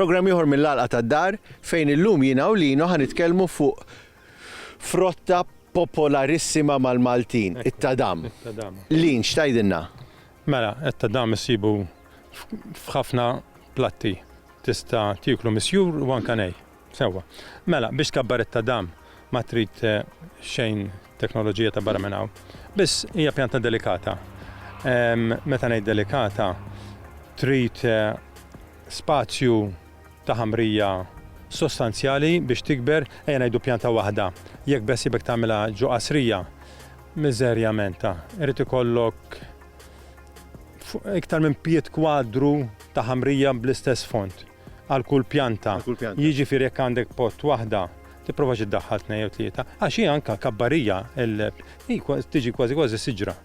Programm ieħor mill-għalqa tad-dar fejn illum jiena u lino ħanitkellmu fuq frotta popolarissima mal-Maltin, it-tadam. Lin, xtajdinna? Mela, etta dan issibu f'ħafna platti. Tista' tieklu misjur u anke nej. Sewwa. Mela, biex tkabbar it-tadam ma trid xejn teknoloġija ta' barra minn hawn. Biss hija pjanta delikata. Meta ngħid delikata, trid spazju ta' ħamrija sostanzjali biex tikber, ejja ngħidu pjanta waħda. Jekk beħsiebek tagħmilha ġo qasrija, Miżerja menta, irid ikollok iktar minn pied kwadru ta' ħamrija bl-istess fond għal kull pjanta. Jiġifieri jekk għandek pot waħda, tipprovax iddaħħal tnejn jew tlieta, għax hi anke kabbarija, hi tiġi kważi kważi siġra.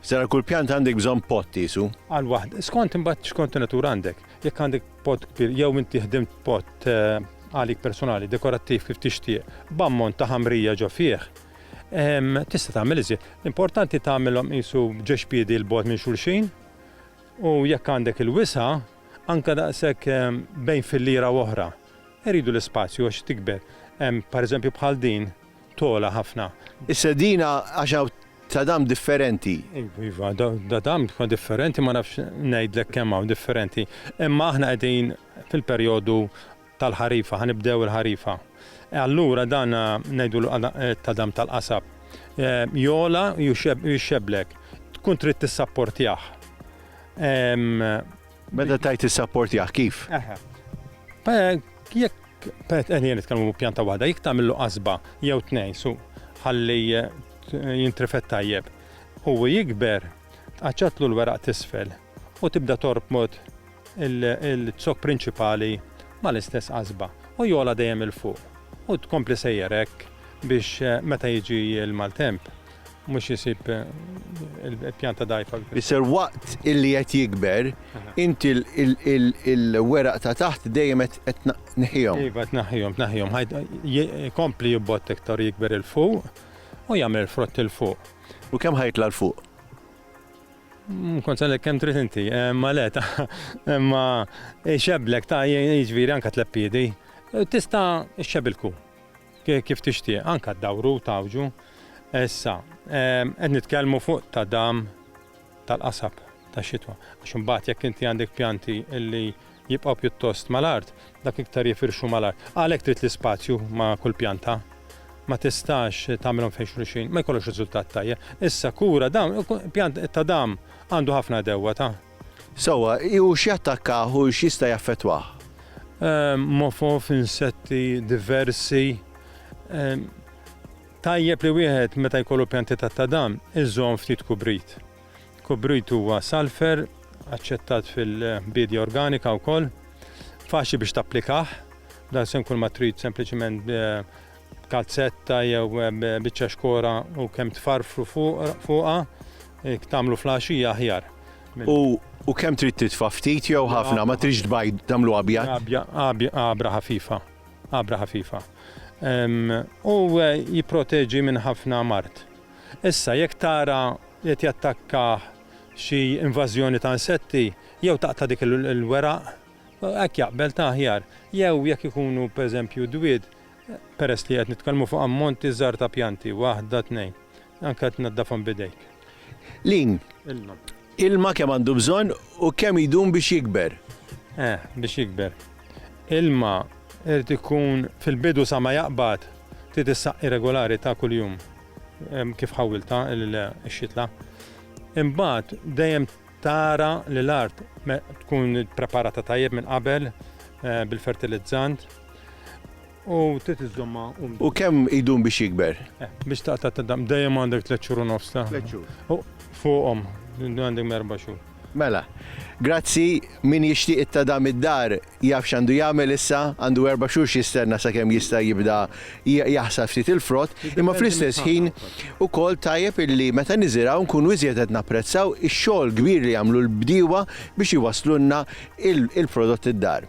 Iżda għal kull pjanta għandek bżonn pot qiesu? Għal waħda, skont imbagħad x'kont natura għandek. Jekk għandek pot kbir jew inti ħdimt pot għalik personali, dekorattiv kif tixtieq, b'ammont ta' ħamrija ġo fih, Tista' tagħmel iżjed. L-importanti tagħmilhom qisu ġex piedi 'l bogħod minn xulxin u jekk għandek il-wisa' anke daqshekk bejn filliera u oħra. Iridu l-ispazju għax tikber. Pereżempju bħal din togħla ħafna. Is-sedina għax hawn ta' dam differenti. Iva, iva, ta' dam differenti ma nafx ngħidlek kemm hawn differenti. Imma aħna qegħdin fil-perjodu tal-ħarifa, ħa nibdew il-ħarifa. Allura dan ngħidulu qadam tal-qasab. Jogħla jixxebblek. Tkun trid tissapportjah. Meta tajt tissapportjah kif? Jekk Pet, eh, jien nitkellmu pjanta waħda, jekk tagħmillu qasba jew tnejn su ħalli eh, jintrifet tajjeb. U jikber Tqaċċatlu l-weraq t'isfel u tibda torbot il-zokk prinċipali mal-istess qasba u jogħla dejjem 'il fuq u tkompli sejjer hekk biex meta jiġi l-maltemp mhux isib il-pjanta dgħajfa. Isser waqt illi qed jikber int il-weraq ta' taħt dejjem qed tneħħihom. Iva tneħħihom, tneħħihom. Ikompli jibbott iktar u jikber 'il fuq u jagħmel il-frott 'il fuq. U kemm ħajtla' 'l fuq? Mm, kont għalek kem trid inti, eh, ma le ta' ma eh, xeblek ta' jiġviri anka tleppidi. Eh, tista' xebilku kif tixtieq, anka d-dawru tawġu. Issa, qed nitkellmu fuq ta' dam tal-qasab ta' xitwa. Għax imbagħad jekk inti għandek pjanti illi jibqgħu pjuttost mal-art, dak iktar jifirxu mal-art. Għalhekk trid l-ispazju ma' kull pjanta. Ma tistax tagħmilhom fejn xulxin, ma jkollokx riżultat tajjeb. Issa kura dawn, pjant ta' dam għandu ħafna għedewwa ta'. Sewwa, u x'jattakkah u x'jista' jaffettwah? Mofo f'insetti diversi. Tajjeb li wieħed meta jkollu pjanti ta' ta' dam iżomm ftit kubrit. Kubrit huwa salfer, aċċettat fil-biedja organika wkoll, faċli biex tapplikah, dan se jkun ma trid sempliċement b'kalzetta jew biċċa xkora u kemm tfarfru fuqha, jekk tagħmlu fl-għaxija aħjar. U kemm trid titfa' ftit jew ħafna, ma tridx tbajd tagħmlu abjad? Għabra ħafifa, għabra ħafifa. U jipproteġi minn ħafna mard. Issa, jekk tara li qed jattakkah xi invażjoni ta' insetti, jew taqta' dik il-weraq, hekk jaqbel ta' aħjar, jew jekk ikunu pereżempju dwied, peress li qed nitkellmu fuq ammonti żgħar ta' pjanti, waħda, tnejn, anke tnaddafhom b'idejk. Lin. Ilma kemm għandu bżonn u kemm jdum biex jikber? Eh, biex jikber. Ilma irid ikun fil-bidu sa ma jaqbad, trid issaqqi regulari ta' kuljum kif ħawwiltha x-xitla. Imbagħad dejjem tara li l-art tkun ippreparata tajjeb minn qabel eh, bil-fertilizzant. U trid iżżommha umda. U kemm idum biex jikber? Biex taqta' tadam dejjem għandek tliet xhur u nofs ta'. Tliet xhur. Fuqhom, għandek erba' xhur. Mela, grazzi, min jixtieq it-tadam id-dar jaf x'għandu jagħmel issa, għandu erba' xhur x'jistenna sakemm jista' jibda jaħsad ftit il-frott, imma fl-istess ħin ukoll tajjeb illi meta niżirgħu nkunu iżjed qed napprezzaw ix-xogħol kbir li jagħmlu l-bdiewa biex iwasslulna il-prodott id-dar.